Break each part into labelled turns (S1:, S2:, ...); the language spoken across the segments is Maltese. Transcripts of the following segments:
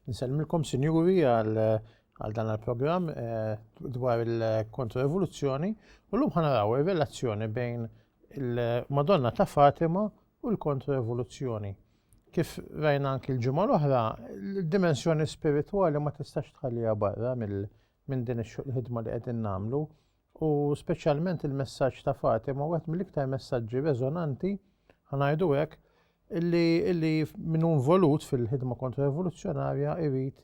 S1: Nselmilkom sinjuri għal dan il-programm eh, dwar il-kontra-evoluzzjoni u l-lum ħanaraw il-relazzjoni bejn il-Madonna ta' Fatima u l-kontro-evoluzzjoni. Kif rajna anki l-ġimgħa l-oħra, l-dimensjoni spiritwali ma tistax tħalliha barra minn din il-ħidma li qegħdin nagħmlu u speċjalment il-messaġġ ta' Fatima wieħed mill-iktar messaġġi reżonanti ħanajdu hekk illi minn involut fil-ħidma kontro-evoluzzjonarja irid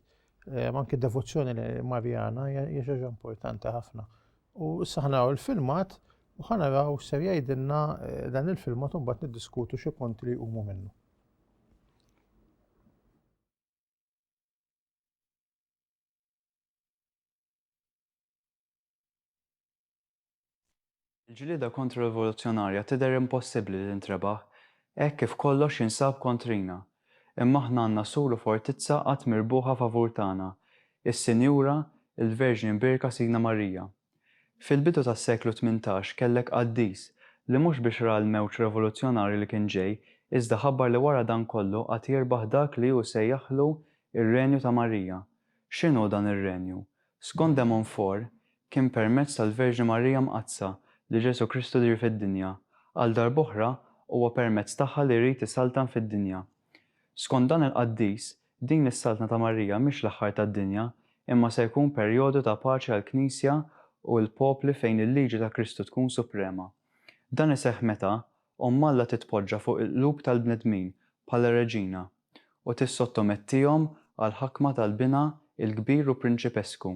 S1: eh, anki devozzjoni li Marjana hija xi importanti ħafna. U issa ħanaraw il-filmat u ħanaraw ser jgħidilna eh, dan il-filmat u mbagħad niddiskutu xi punti li jqumu minnu.
S2: Il-ġlieda kontra rivoluzzjonarja tidher impossibbli li ntrebaħ, hekk kif kollox jinsab kontrina. Imma aħna għandna sur u fortizza qatt mirbuħa favur tagħna, is-Sinjura, il-Verġni Mbierka Sidna Marija. Fil-bidu tas-seklu tmintax kellek qaddis li mhux biex ra l-mewġ revoluzzjonarju li kien ġej iżda ħabbar li wara dan kollu għad jirbaħ dak li hu sejjaħlu r-Renju ta' Marija. X'inhu dan ir-Renju? Skont de Montfort, Kien permezz tal-Verġni Marija Mqaddsa li Ġesù Kristu diher fid-dinja. Għal darb'oħra, huwa permezz tagħha li jrid isaltan fid-dinja. Skont dan il-qaddis, din is-Saltna ta' Marija mhix l-aħħar tad-dinja, imma se jkun perjodu ta' paċi għall-Knisja u l-popli fejn il-liġi ta' Kristu tkun suprema. Dan iseħħ meta Omm Alla titpoġġa fuq il-qlub tal-bnedmin bħala reġina u tissottomettihom għall-ħakma tal-Binha il-Kbir u Prinċipesku.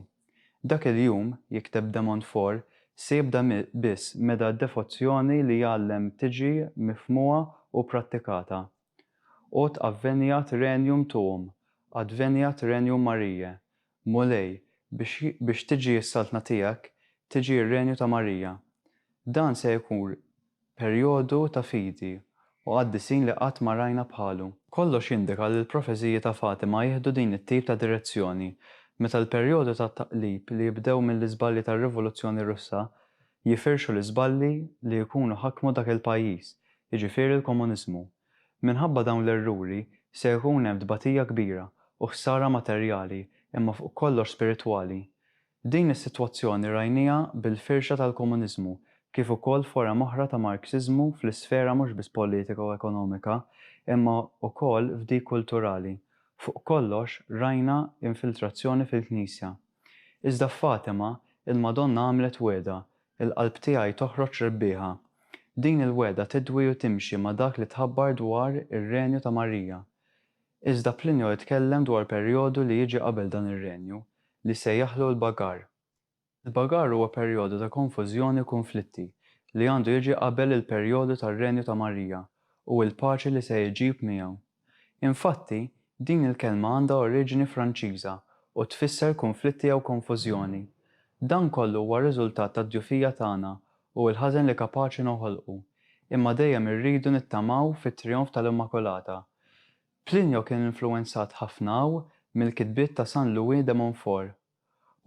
S2: Dak il-jum, jikteb de Montfort, se jibda biss meda d-devozzjoni li jgħallem tiġi mifhmua u prattikata. Ut adveniat regnum tuum, adveniat regnum Mariae, Mulej, biex biex tiġi s-Saltna tiegħek, tiġi r-Renju ta' Marija. Dan se jkun Perjodu ta' fidi u qaddisin li qatt ma rajna bħalu. Kollox jindika li l-profeziji ta' Fatima jieħdu din it-tip ta' direzzjoni, meta l-perjodu ta' taqlib li jibdew mill-iżbalji tar-Rivoluzzjoni Russa jifirxu l-iżbalji li jkunu ħakmu dak il-pajjiż, jiġifieri l-komuniżmu. Minħabba dawn l-erruri se jkun hemm tbatija kbira u ħsara materjali imma fuq kollox spiritwali. Din is-sitwazzjoni rajnieha bil-firxa tal-komuniżmu, kif ukoll forom oħra ta' Marxiżmu fl-isfera mhux biss politika u ekonomika, imma wkoll f'dik kulturali. Fuq kollox, rajna infiltrazzjoni fil-Knisja. Iżda f'Fatima, il-Madonna għamlet wegħda, Il-qalb tiegħi toħroġ rebbieħa. Din il-wegħda tidwi u timxi ma' dak li tħabbar dwar ir-Renju ta' Marija. Iżda Plinio jitkellem dwar perjodu li jiġi qabel dan ir-renju li sejjaħlu l-Bagar. Il-Bagar huwa perjodu ta' konfużjoni u kunflitti li għandu jiġi qabel il-perjodu tar-renju ta' Marija u l-paċi li se jġib miegħu. Infatti, din il-kelma għandha oriġini Franċiża u tfisser kunflitti jew konfużjoni. Dan kollu huwa riżultat tad-djufija tagħna u l-ħażen li kapaċi noħolqu, imma dejjem irridu nittamaw fit-trijonf tal-Immakulata. Plinio kien influwenzat ħafna u mill-kitbiet ta' San Louis de Montfort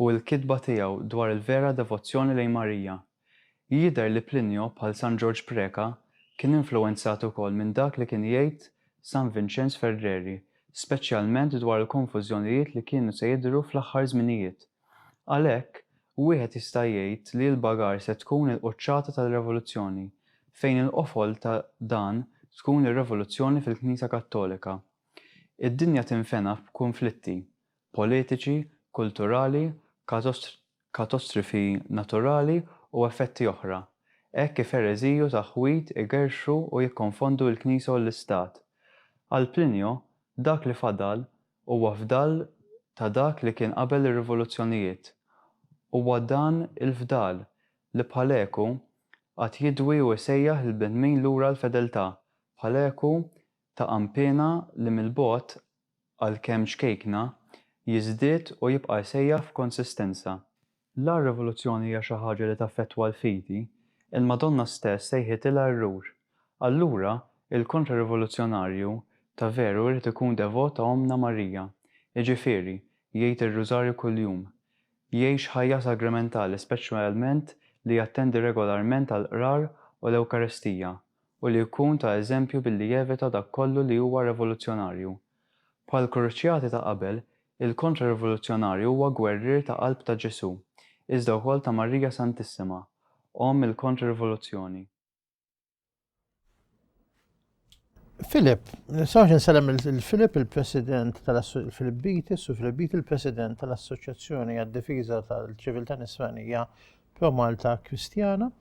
S2: u l-kitba tiegħu dwar il-vera devozzjoni lejn Marija. Jidher li Plinio, bħal San Ġorġ Preca, kien influwenzat ukoll minn dak li kien jgħid San Vinċenz Ferreri, speċjalment dwar il-konfużjonijiet li kienu se jidhru fl-aħħar żminijiet. Għalhekk, wieħed jista' jgħid li l-bagar se tkun il-quċċata tal-revoluzzjoni, fejn il-qofol ta' dan tkun ir-revoluzzjoni fil-Knisja Kattolika. Id-dinja tinfena f'kunflitti, politiċi, kulturali, katostrifi naturali u effetti oħra, hekk kif ereżiji u taħwid igerrxu u jikkonfondu l-Knisja u l-Istat. Għal Plinio, dak li fadal Huwa fdal ta' dak li kien qabel ir-rivoluzzjonijiet. Huwa dan il-fdal li bħalekku għad jidwi u jsejjaħ lill-bnedmin lura għall-fedeltà, bħalekku ta' għanpiena li mill-bogħod, għalkemm ċkejkna, jiżdied u jibqa' jsejjaħ f'konsistenza. La r-rivoluzzjoni hija xi ħaġa li taffettwa l-fidi, il-Madonna stess sejħitilha errur. Allura, il-kontra-rivoluzzjonarju ta' veru jrid ikun devot ta' Ommna Marija, jiġifieri, jgħid ir-Rużarju kuljum, jgħix ħajja sagrementali speċjalment li jattendi regolarment għall-Qrar u l-Ewkaristija u li jkun ta' eżempju billi jevita dak kollu li huwa revoluzzjonarju. Bħall-kruċjati ta' qabel, il-Kontra-Rivoluzzjonarju huwa gwerrier ta' qalb ta' Ġesù, iżda wkoll ta' Marija Santissima, Omm il-Kontra-Rivoluzzjoni.
S1: Philip, nistgħux insellem lil Philip, il-President tal Philip Beatty, Su Philip Beatty, il-President tal-Assoċjazzjoni għad-Difiża tal-Ċiviltà Nisranija Pro-Malta Kristjana,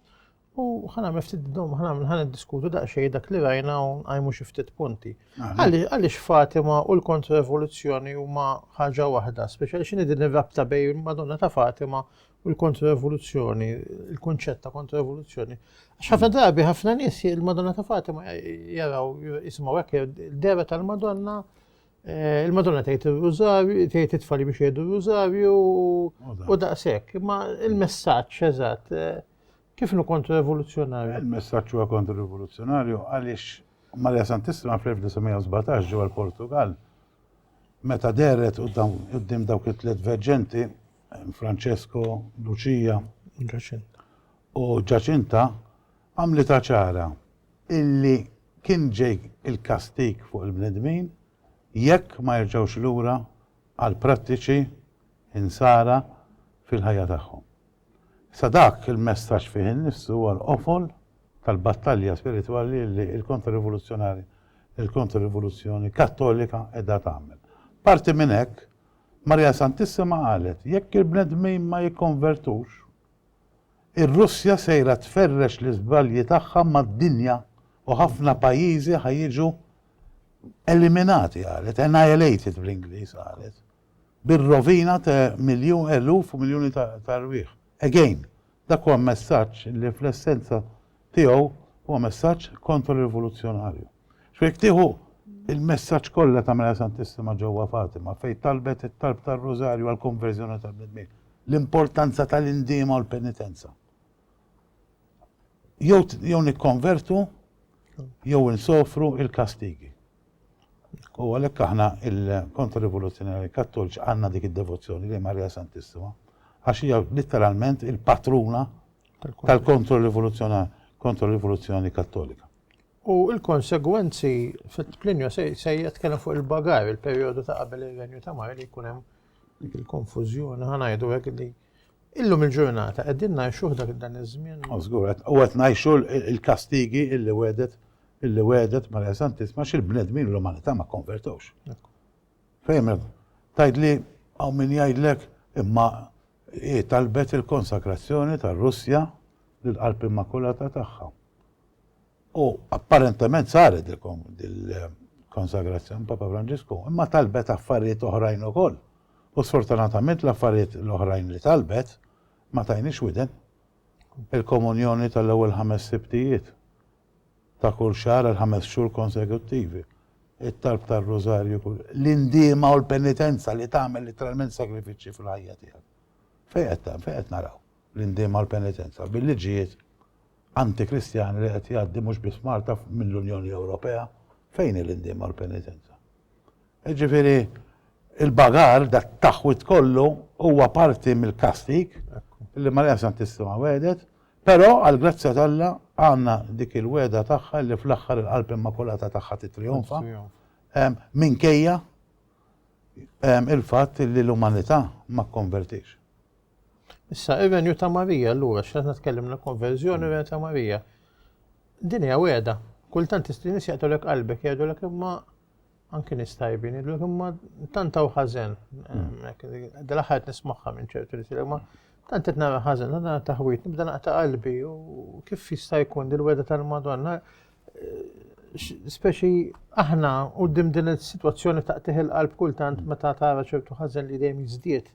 S1: U ħa nagħmel ftit dom, ħa nagħmel ħa niddiskutu daqsxejn dak li rajna u nqajmu xi ftit punti. Għaliex Fatima u l-kontrrevoluzzjoni huma ħaġa waħda, speċjali x'inhi din ir-rabta bejn Madonna ta' Fatima u l-kontrrevoluzzjoni, il-kunċett ta' kontrrevoluzzjoni. Għax ħafna drabi ħafna nies il-Madonna ta' Fatima jaraw jisimgħu hekk il-dera tal-Madonna eh, il-Madonna tgħid ir-rużarju, tgħid it-tfali biex jgħidu r-rużarju u daqshekk. Imma il-messaġġ eżatt eh, Kif nu kontra-rivoluzzjonarju? Il-messaġġ huwa
S3: kontra-rivoluzzjonarju għaliex Maria Santissima fl-1917 ġewwa l-Portugal meta deret qudiem dawk it-tliet verġenti Francesco, Lucia u Ġaċinta għamlita ċara illi kien ġej il-kastik fuq il-bnedmin jekk ma jerġgħux lura għal prattiċi insara fil-ħajja tagħhom. Sa dak il-messaġġ fih innifsu huwa l-qofol tal-battalja spiritwali li l-Kontrarivoluzzjonari, il-Kontrarivoluzzjoni Kattolika qiegħda tagħmel. Parti minn hekk, Marija Santissima qalet, jekk il-bnedmin ma jikkonvertux, ir-Russja sejra tferrex l-iżbalji tagħha mad-dinja u ħafna pajjiżi ħa jiġu eliminati qalet, annihilated bl-Ingliż qalet. bir-rovina ta' miljun eluf u miljuni ta' rwieħ. Again, dak huwa messaġġ li fl-essenza tiegħu huwa messaġġ kontro-rivoluzzjonarju. X'fu jekk tieħu l-messaġġ kollha ta' Mela Santissima ġewwa Fatima fejn talbet it-talb tar-Rużarju għall-konverżjoni tal-bnedmin, l-importanza tal-indiema u l-penitenza. Jew jew nikkonvertu jew insofru l-kastigi. U għalhekk aħna il-Kontra-Rivoluzzjonari Kattoliċi għandna dik id-devozzjoni lejn Marija Santissima għax hija litteralment il-patruna tal-Kontra-Rivoluzzjonar Kontra-Rivoluzzjoni Kattolika. U
S1: l-konsegwenzi fit-Plinju se jitkellem fuq il-bagar, il-perjodu ta' qabel ir-Renju ta' Mari li jkun hemm dik il-konfużjoni ħa ngħidu hekk li Illum il-ġurnata qegħdin ngħixuh dak dan iż-żmien? O żgur qed, u qed
S3: ngħixu l-kastigi illi wegħdet illi wegħdet Marija Santissima xi l-bnedmin u l-umanità ma kkonvertewx. Fejn tgħidli hawn min jgħidlek imma hi talbet il-konsakrazzjoni tar-Russja lill-Qalb Immakulata tagħha. U apparentement saret dil-konsagrazzjoni Papa Franġisku, imma talbet affarijiet oħrajn ukoll. U sfortunatament l-affarijiet l-oħrajn li talbet ma tajniex widen. Il-komunjoni tal-ewwel ħames sibtijiet ta' kull xahar għal ħames xhur konsekuttivi. It-talb tar-rużarju kull l-indiema u l-penitenza li tagħmel literalment sagrifiċċji fil-ħajja tiegħek. Fejn qed naraw? l-indiem għall-penitenza bil-liġijiet anti-Kristjani li qed jgħaddi mhux biss Malta mill-Unjoni Ewropea, fejn hi l-indiem għall-penitenza? Jiġifieri il-bagar dat-taħwid kollu huwa parti mill-kastig li Marija Santissima wedet, però għall-grazzja t'Alla għandna dik il-wegħda tagħha li fl-aħħar il-qalb immakulata tagħha titrionfa minkejja il-fatt li l-umanità ma kkonvertix.
S1: Issa, ir-renju ta' Marija, allura, x'għadna tkellimna konverżjoni ir-renju ta' Marija. Din hija weda. Kultant nies jaqtulek qalbek jgħidulek imma anki nies tajbin jgħidulek imma tant hawn ħażen. Dal-aħħar nismagħha minn ċertu nies imma tant qed nara ħażen, tant nara taħwit, nibda naqta' qalbi u kif jista' jkun dil-weda tal-Madonna speċi aħna u dim din il-situazzjoni ta' teħil qalb kultant meta tara ċertu ħażen li dejjem jiżdied.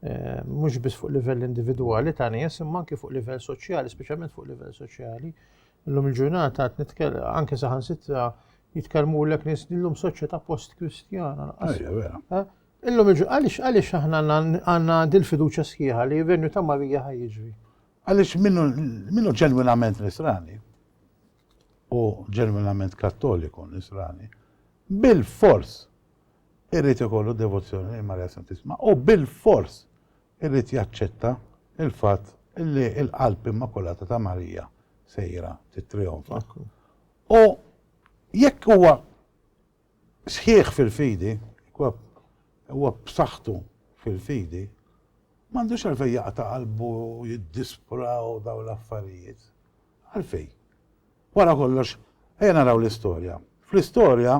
S1: eh, mhux biss fuq livell individwali ta' nies, imma anke fuq livell soċjali, speċjalment fuq livell soċjali. Illum il-ġurnata qed nitkellem anke saħansitra jitkellmu lek nies illum soċjetà post-Kristjana. Eh? Illum il-ġurnata għaliex għaliex aħna għandna din fiduċja sħiħa li venju ta' Marija ħajġri. Għaliex
S3: minnu ġenwinament nisrani u ġenwinament kattoliku nisrani bil-fors Irid ikollu devozzjoni lejn Marija Santissima u bilfors irid jaċċetta l-fatt li l-Qalb Immakulata ta' Marija sejra tittrijonfa. U jekk huwa sħiħ fil-fidi, huwa b'saħħtu fil-fidi, m'għandux għalfejn jaqta' qalbu u jiddispra u dawn l-affarijiet. Għalfejn? Wara kollox, ejja naraw l-istorja. Fl-istorja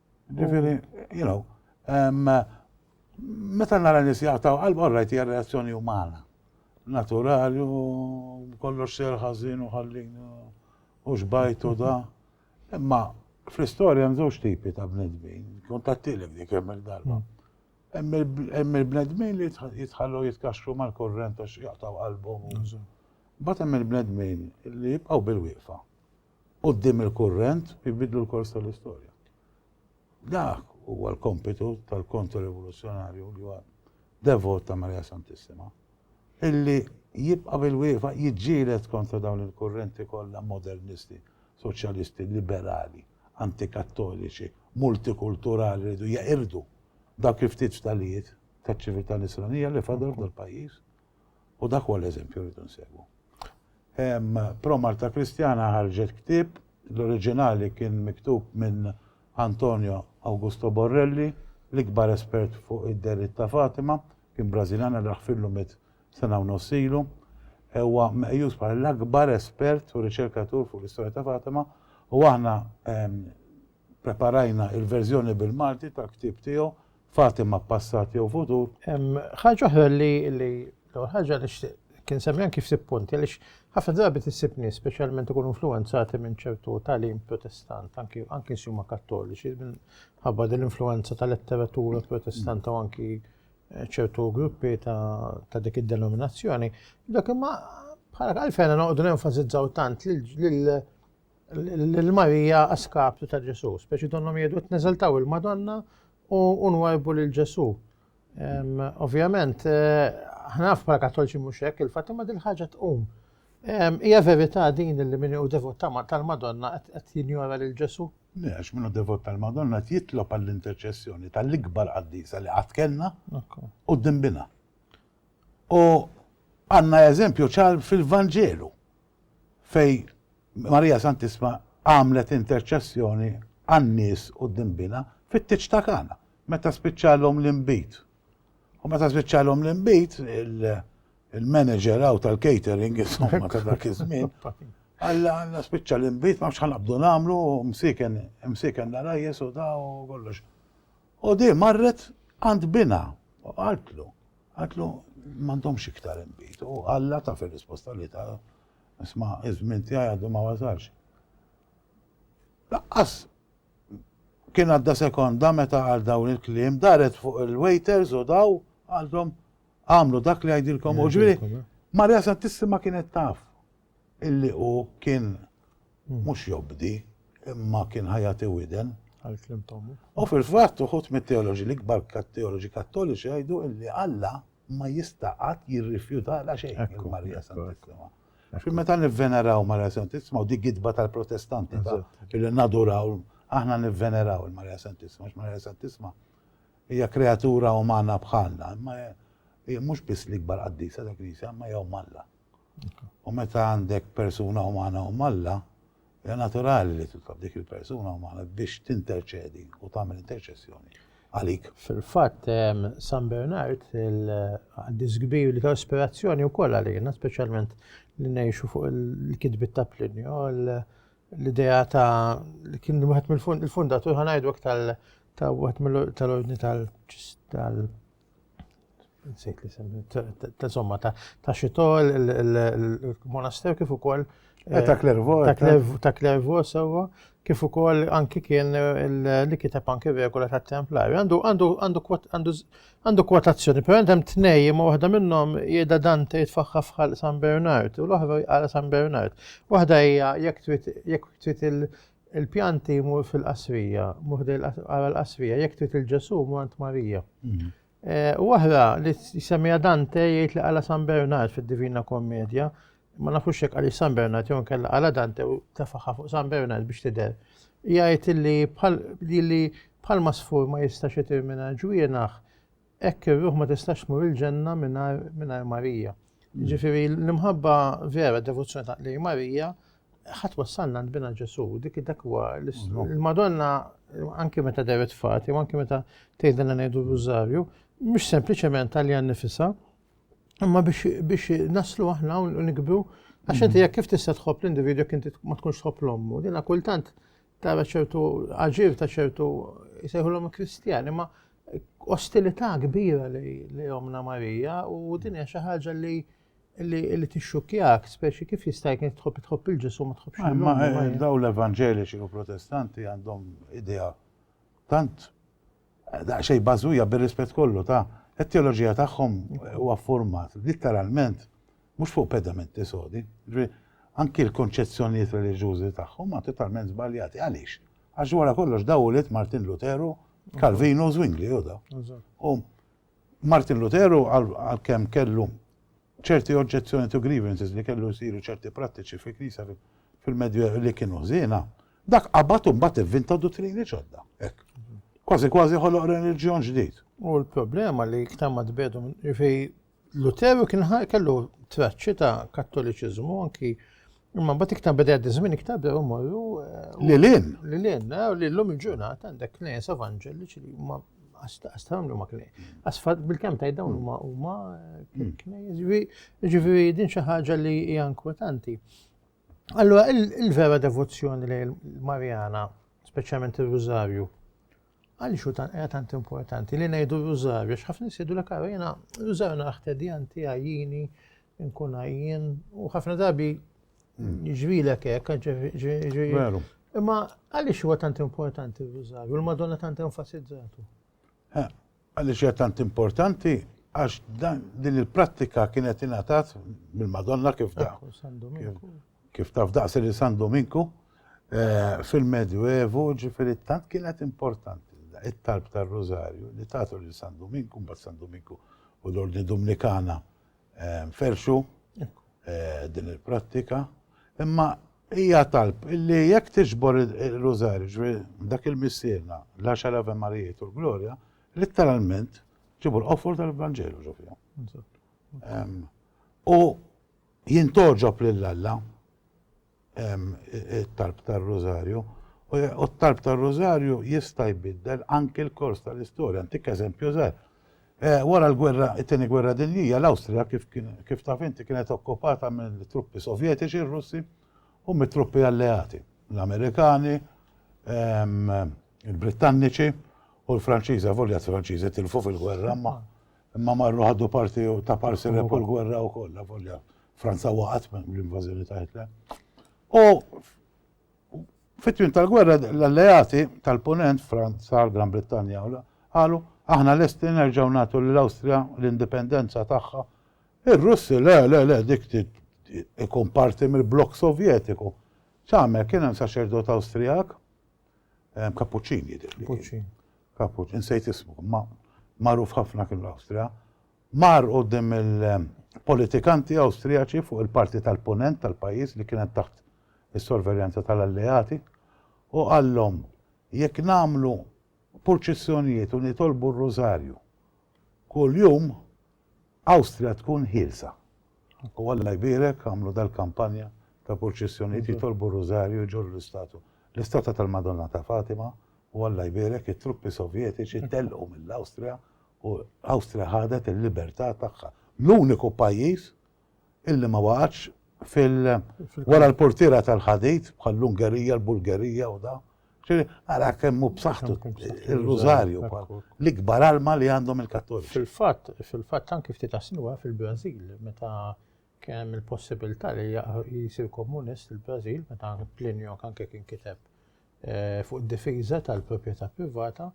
S3: Ġifieri, you know, meta nara nies jaqtaw qalb all right hija reazzjoni umana. Naturali u kollox ser ħażin u ħallin u xbajt u da. Imma fl-istorja hemm żewġ tipi ta' bnedmin, kont tattilek dik hemm il-darba. Hemm il-bnedmin li jitħallu jitkaxxu mal-kurrent għax jaqtaw qalbhom. Mbagħad hemm il-bnedmin li jibqgħu bil-wieqfa. quddiem il-kurrent u jbiddlu l-kors tal-istorja. Dak huwa l-kompitu tal-kontra-rivoluzzjonarju li huwa devot ta' Marija Santissima, illi jibqa' bil-wieqfa jiġġieled kontra dawn il-kurrenti kollha modernisti, soċjalisti, liberali, antikattoliċi, multikulturali li jridu jeqirdu dawk il-ftit ftalijiet taċ-ċiviltà Nisranija li fadal f'dal-pajjiż. U dak huwa l-eżempju rridu nsegwu. Pro Marta Kristjana ħarġet ktieb, l-oriġinali kien miktub minn Antonio Augusto Borrelli, l-ikbar espert fuq id-deritt ta' Fatima, kien Brażiljan għal raħfillu mit sena u nossilu. Huwa meqjus bħala l-akbar espert u riċerkatur fuq l-istorja ta' Fatima u aħna Ppreparajna il-verżjoni bil-Malti tal-ktieb tiegħu, Fatima, Passat jew Futur? Ħaġa oħra
S1: li l-ewwel ħaġa nixtieq kien semmi anki ftit punti għaliex ħafna drabi tisib nies speċjalment ikunu influwenzati minn ċertu tagħlim protestant, anki anki huma kattoliċi minħabba din l-influwenza tal-letteratura protestanta u anki eh, ċertu gruppi ta' dik id-denominazzjoni. Dak imma bħala għalfejn noqogħdu nenfasizzaw tant lil lil Marija a skaptu ta' Ġesù. Speċi donnhom jgħidu qed neżaltaw il-Madonna u nwarbu lil Ġesù. Ovvjament, aħna naf bħala Kattolċi mhux hekk, il-fatt imma din ħaġa tqum. Hija verità din li min hu devot tal-Madonna qed jinjora lil Ġesù? Le, għax min hu devot
S3: tal-Madonna qed jitlob għall-interċessjoni tal-ikbar qaddisa li qatt kellna u dimbina. U għandna eżempju ċar fil-Vanġelu. fejn Marija Santissma għamlet interċessjoni għan-nies u d-dinbina fit-tieġ ta' Kana, meta spiċċalhom l-inbid. U meta spiċċalhom l-inbid, il-manager għaw tal-catering, insomma, ta' dak iż-żmien, għalla għalla spiċċa l-inbid, ma ħanabdu nagħmlu, msiken, msiken narajjes u ta' u kollox. U di marret għand binha u qaltlu, qaltlu m'għandhomx iktar inbid. U Alla ta' fir-risposta li ta' isma' iż-żmien tiegħi għadu ma wasalx. Laqqas kien għadda sekonda meta għal dawn il-kliem daret fuq il-waiters u daw għalhom għamlu dak li għajdilkom u ġviri. Marja Santissima kienet taf illi hu kien mhux jobdi imma kien ħajati widen. Għal-klim tommu. U fil-fatt uħut mit-teoloġi l-ikbar kat-teoloġi kattoliċi jgħidu illi Alla ma jista' qatt jirrifjuta la xejn il-Marija Santissima. Xi meta nivveneraw Marija Santissima u dik gidba tal-Protestanti ta' illi naduraw aħna nivveneraw il-Marija Santissima, Marija Santissima hija kreatura umana bħalna, imma mhux biss l-ikbar qaddisa tal-Knisja, imma jew Alla. U meta għandek persuna umana u Alla, hija naturali li titlob dik il-persuna umana biex tinterċedi u tagħmel interċessjoni għalik. Fil-fatt,
S1: San Bernard, il-qaddis kbir li ta' ispirazzjoni wkoll għalina, speċjalment li ngħixu fuq il-kitbiet ta' Plinio, l-idea ta' li kien wieħed mill-fundatur ħanajdu tal ta' wieħed tal-ordni tal-ċista nsejt li semmi, insomma, ta' xitol, il-monasteru kif ukoll. Eh, ta' Klervo.
S3: Ta'
S1: Klervo, sewa, kif ukoll anki kien li kiteb anki regola ta' Templar. Għandu kwotazzjoni, per għandem tnej, ma waħda minnhom jeda Dante jitfaħħa fħal San Bernard, u l-oħra jqala San Bernard. Waħda hija jekk trid Il-pjanti mur fil-qasrija, mur għara l-qasrija, jek trid il-ġesu mur għand Marija. Mhm. Eh, u għahra li semija Dante jgħid li għala San Bernard fil-Divina Kommedja, ma nafux jek għalli San Bernard jew kella għala Dante u tefaħa fuq San Bernard biex tider. Jgħid li bħal ma sfur ma jistax jitir minna ġwienaħ, Hekk ir-ruħ ma tistax tmur il-ġenna mingħajr Marija. Mm. Ġifieri l-imħabba vera devozzjoni ta' lej Marija ħadd wassalna nbina Ġesu, dik dak huwa l-Madonna anke meta deret fati, anke meta tgħidilna ngħidu r-rużarju, mhux sempliċement għalija nifisha, imma biex naslu aħna u nikbru Għax inti jekk kif tista' tħobb l-individwu jekk inti ma tkunx tħobb l-ommu, dina kultant tara ċertu aġir ta' ċertu jsejħulhom Kristjani, ma ostilità kbira li omna Marija u din hija xi ħaġa li li tixxukjak, speċi kif jista' jkun tħobb tħobb il-ġisum ma tħobbx il Ma eh, daw
S3: l-evanġeliċi u protestanti għandhom idea tant Daqsxejn bażwija bir-rispett kollu ta' it-teoloġija tagħhom huwa ffurmat litteralment mhux fuq pedamenti sodi. Ġifieri, anki l-konċezzjonijiet reliġjużi tagħhom huma totalment żbaljati. Għaliex? Għax wara kollox daw ulied Martin Luteru, Kalvinu u Zwingli hu daw. U Martin Luteru, għalkemm kellu ċerti oġġezzjonijiet u grievances li kellu jsiru ċerti prattiċi fil-Knisja fil-Medjuevo li kienu ħżiena, dak qabad u mbagħad ivvinta duttrini ġodda. Hekk. Kważi kważi ħoloq reliġjon ġdid. U l-problema
S1: li iktar ma tbedu minn Luteru kien kellu traċċi ta' kattoliċiżmu anki Imma mbagħad iktar beda jgħaddi żmien iktar bdew imorru. Eh, lilin.
S3: Lilin, eh, li
S1: llum il-ġurnata għandek knejjes evanġeliċi li huma għastam li ma knej. Għasfat bil-kem tajt dawn huma huma eh, hmm. knejjes. Ġifieri din xi ħaġa li hija inkwetanti. Allora il-vera devozzjoni li l-Marjana, speċjalment ir-Rużarju, Għaliex hu hija tant importanti li ngħidu rużarju, għax ħafna nies jgħidulek ara jiena rużarju naraħ tedjanti, għajjini, nkun għajjien, u ħafna drabi ġrilek hekk, ġri.
S3: Imma
S1: għaliex huwa tant importanti r-rużarju, l-Madonna tant enfasizzatu?
S3: Għaliex hija tant importanti? Għax din il-prattika kienet ingħatat mill-Madonna kif da. Kif taf daqs li San Dominku eh, fil-Medjuevu ġifieri tant kienet importanti it-talb tar-Rużarju li tagħtu lil San Dominku, mbagħad San Dominku u l-Ordni Dominikana Ferxu din il-prattika, imma hija talb illi jekk tiġbor il-rużarju, dak il-missierna, l-għaxar Ave Marijiet u l-Glorja, letteralment ġibu l-qofol tal-Vangelu ġofja. U jintoġob lill-Alla it-talb tar-Rużarju, u t-talb tar-Rużarju jista' jbiddel anki l-kors tal-istorja. Ntik eżempju żgħir. Eh, wara l-gwerra, it-tieni gwerra dinjija, l-Awstrija kif, kif taf inti kienet okkupata mill-truppi sovjetiċi r-Russi u mit-truppi alleati, l-Amerikani, ehm, il-Brittanniċi u l-Franċiża, volja t-Franċiżi tilfu fil-gwerra, ma Imma marru ħadu parti u ta' parsi li kull gwerra u koll, la volja. Franza waqat minn l-invazjoni ta' Hitler. U fit-twim tal-gwerra l-alleati tal-ponent, Franza, l-Gran Brittanja, għalu, aħna l-esti nerġaw natu l-Austria l-indipendenza tagħha. Ir-Russi, le, le, le, dik ikun parti mill-blok sovjetiku. ċamer kien hemm saċerdot Awstrijak Kappuċċin jidher. Kappuċċin. Kappuċċin, insejt ismu, ma magħruf ħafna kien l-Awstrija. Mar qudiem il-politikanti Awstrijaċi fuq il-parti tal-punent tal-pajjiż li kienet taħt is-sorveljanza tal-alleati u qallhom jekk nagħmlu purċissjonijiet u nitolbu r-rużarju Kuljum Awstrija tkun ħielsa. U Alla jbierek għamlu dal-kampanja ta' purċissjonijiet jitolbu r-Rużarju jġorru l-istatu, l-istatwa tal-Madonna ta' Fatima u Alla jbierek it-truppi Sovjetiċi telqu mill-Awstrija u Awstrija ħadet il-libertà tagħha. L-uniku pajjiż illi ma waqgħatx fil wara l-portiera tal-ħadid bħall-Ungerija, l-Bulgerija u da. Ġifieri ara kemm hu b'saħħtu ir-Rużarju l-ikbar alma li għandhom il-Kattoliċi. Fil-fatt, fil-fatt anki
S1: ftit asnuha fil-Brażil meta kien hemm il-possibilità li jsir komunist il-Brażil meta Plinio anke kien kiteb Eh, fuq difiża tal-proprjetà privata,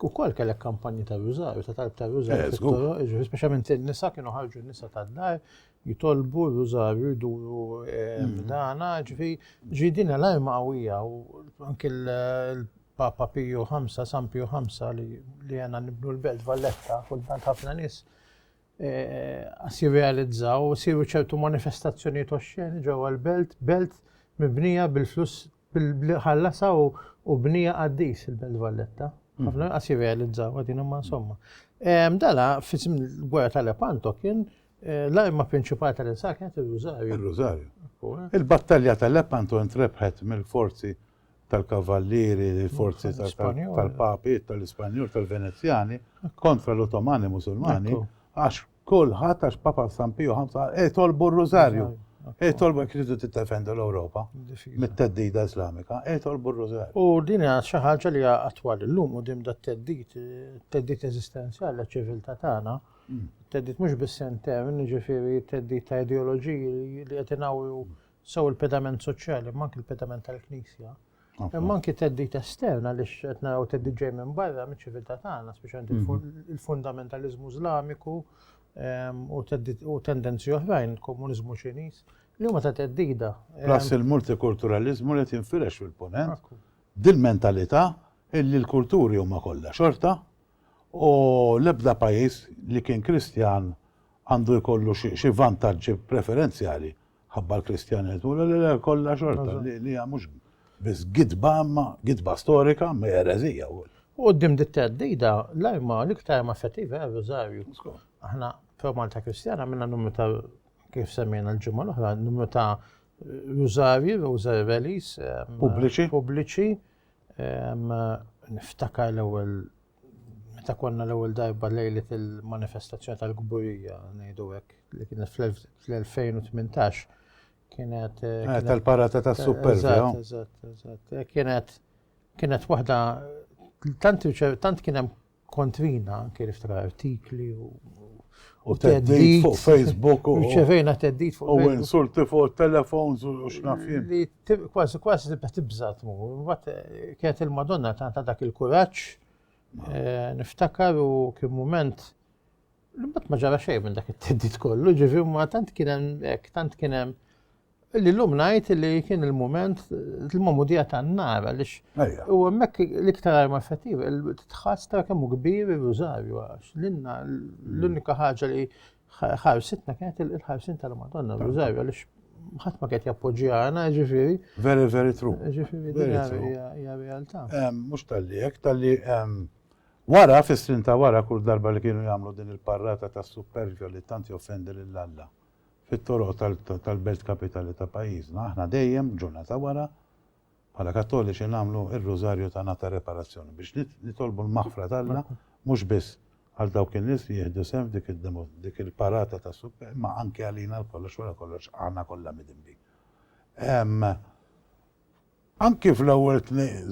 S1: ukoll kellek kampanji ta' rużar, ta' talb ta' rużar eh, fit-toro, ġifieri speċjalment in-nisa kienu ħarġu n-nisa tad-dar jitolbu rużar jduru eh, mm. dana, ġifieri ġi din l-arma qawwija u anke l-Papa Piju 5, San Piju 5 li għandna nibnu l-Belt Valletta, kultant ħafna nies għas jirrealizzaw, siru ċertu manifestazzjonijiet oxxeni ġewwa l-belt, belt mibnija bil-flus Bil-bli ħallasha u u bnija qaddis il-Belt Valletta. Ħafna inqas jirrealizzaw qegħdin imma insomma. Ehm, Dala f'isem il-gwerra tal-Lepanto kien eh, l-arma prinċipali tal-insar kienet ir-rużarju. Il-Rosario.
S3: Il-battalja tal-Lepanto intrebħet mill-forzi tal-kavallieri, il-forzi tal- Tal-Ispanjol. tal-papi, tal-Ispanjol, tal-Venezjani, kontra l-Ottomani Musulmani, Ekku. għax Kulħadd għax Papa San Pio V qal ej tolbu r-Rużarju. Ej tolbu jekk tridu tiddefendu l-Ewropa mit-teddida Islamika, ej tolbu r-Rużarju. U din hija xi ħaġa
S1: li hija attwali llum quddiem dat teddid, teddid eżistenzjali għaċ-ċiviltà tagħna. Mm. Teddid mhux biss intern, jiġifieri teddid ta' ideoloġiji li qed inawru sew il-pedament soċjali, ma anke il-pedament tal-Knisja. Imma anki teddit estern għaliex qed naraw teddit ġej minn barra miċ-ċiviltà tagħna, speċjalment il-fundamentaliżmu Iżlamiku ehm, u tendenzi oħrajn, komuniżmu Ċiniż, li huma ta' teddida. Ehm. Plus
S3: il-multikulturaliżmu li tinfirex fil-ponent, dil-mentalità illi l-kulturi huma kollha xorta u l-ebda pajjiż li kien Kristjan għandu jkollu xi vantaġġi preferenzjali ħabba l-Kristjanet, u l-le kollha xorta li hija mhux biss gidba ma gidba storika ma jerezija u. U qoddim dit
S1: teddida l-arma l-iktar ma effettiva hija r-Rużarju. Aħna pro Malta Kristjana minna numru ta' kif semmejna l-ġimgħa l-oħra, numru ta' Rużarju, Rosary Rallies, pubbliċi. Pubbliċi. Niftakar l-ewwel meta konna l-ewwel darba lejlet il-manifestazzjoni tal-kburija, ngħidu hekk, li kienet fl-2018, kienet. Eh, eh, tal-parata
S3: tas super Eżatt, eżatt, eżatt. Eh,
S1: kienet kienet waħda tant tant kien hemm kontrina anke niftra artikli u
S3: u teddit fuq Facebook u ċevejna teddit fuq u
S1: insulti fuq
S3: telefons u x'nafjien. Kważi
S1: kważi tibda tibża tmur. Mbagħad eh, kienet il-Madonna ta' dak il-kuraġġ eh, niftakar u kien mument l-imbat ma ġara xejn minn dak it-teddit kollu, ġifi ma tant kien hemm hekk, tant kien hemm li l-lum najt li kien il-moment il-mamudija ta' nara li u għemmek l-iktar arma effettiva, tħass ta' kemmu kbir il-rużarju għax l-inna l-unika ħaġa li ħarsitna kienet il-ħarsin tal-Madonna, l-użajr, għalix ħadd ma kienet jappoġġjana, ġifiri. Very, very true.
S3: Ġifiri,
S1: hija realtà. Mhux tal-li hekk,
S3: tal-li wara fis-snin ta' wara kull darba li kienu jagħmlu din il-parrata ta' supervja li tant joffendi lil Alla fit-toroq tal-belt kapitali ta' pajjiżna, aħna dejjem ġurnata wara Bħala Kattoliċi nagħmlu r-Rużarju ta' Ngħata Reparazzjoni biex nitolbu l-maħfra t'Alla mhux biss għal dawk in-nies li jieħdu sehem f'dik il-parata tas-Suq imma anke għalina lkoll għax wara kollox aħna kollha midinbin. Anke fl-ewwel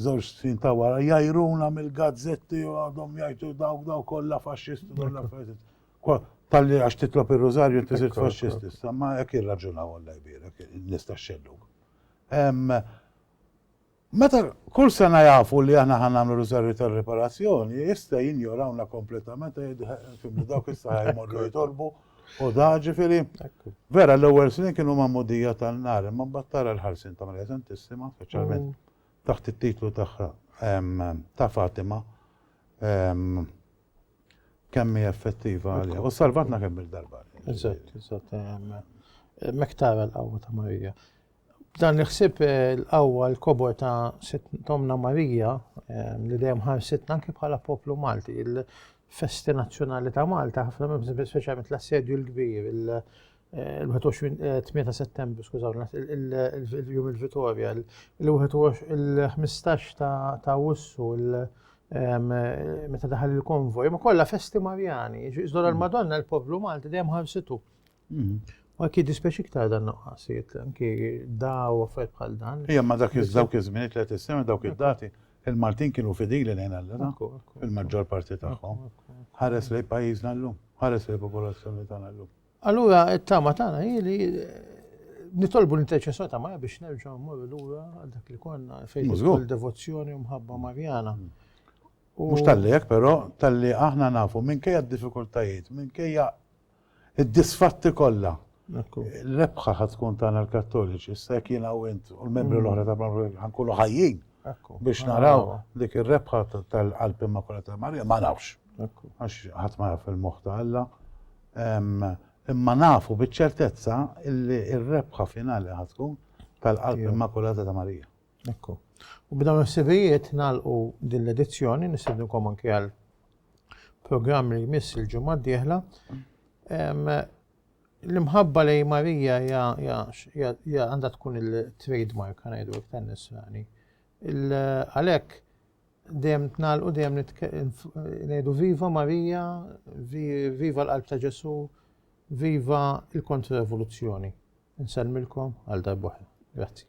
S3: żewġ snin ta' wara jgħajruna mill-gazzetti u għadhom jgħidu dawk dawk kollha faxxisti dawn l-affarijiet. Talli għax titlob ir-Rużarju inti sirt faxxist issa, ma hekk jirraġunaw Alla jbierek in-nies tax-xellug. Meta kull sena jafu li aħna ħa nagħmlu riżorvi tar-riparazzjoni, issa jinjorawna kompletament fimni dawk issa jmorru jitolbu u da ġifieri. Vera l-ewwel snin kienu magħmudija tan-nar, imma mbagħad tara l-ħarsin ta' Marija Santissima, speċjalment mm. taħt it-titlu tagħha ta' Fatima. Kemm hi effettiva għalija. U salvatna kemm il-darba. Eżatt, eżatt.
S1: Mek tara l-qawwa ta' Marija. Dan li ħsib eh, l-qawwa l-kobor ta' Tomna Marija eh, li dejjem ħarsitna anke bħala poplu Malti, il-festi nazzjonali ta' Malta, ħafna minn speċjalment l-assedju l-kbir, il-28 eh, settembru, skużaw, il-jum il-Vitorja, il-15 ta' Wissu, il- meta daħal il-konvoj, ma kollha festi Marjani, iżdor għal-Madonna mm. l-poplu Malti dejjem ħarsitu. Mm. Ma ki dispeċi ktar dan nuqqasiet, anki daw affarijiet bħal dan. Ija ma dak iż-żaw kizmini li qed issemmi
S3: dawk id-dati, il-Maltin kienu fidili lejn Alla, il-maġġor parti tagħhom. Ħares li pajjiżna llum, ħares li popolazzjoni tagħna llum. Allura t-tama
S1: tagħna hi li nitolbu l-interċessjoni ta' Marja biex nerġgħu mmorru lura għal dak li konna fejn il-devozzjoni u mħabba Marjana. Mm. Mhux
S3: tal-li hekk però tal-li aħna nafu minkejja d-diffikultajiet, minkejja id-disfatti kollha. L-ebħa ħad tkun tagħna l-Kattoliċi, issa jekk jiena u int u l-membri mm. l-oħra ta' ħankunu ħajjin
S1: biex naraw
S3: dik ir-rebħa tal-qalb immakulata ta' Marja ma nafx. Għax
S1: ħadd ma jaf
S3: il-moħħ ta' Alla. Imma nafu biċ-ċertezza illi r-rebħa finali ħa tkun tal-Qalb Immakulata ta' Marija. Ekku.
S1: U b'dawn il-ħsibijiet nagħlqu din l-edizzjoni, nistednukom anke għal programm li jmiss il-ġimgħa d-dieħla. L-imħabba lej Marija għandha tkun il-trademark għanajdu għek tennis rani. Għalek, Dejjem nitnagħlqu, dejjem ngħidu viva Marija, viva l-Qalb ta' Ġesu, viva l-Kontra-Revoluzzjoni. Nsellmilkom għal darbohra. Grazzi.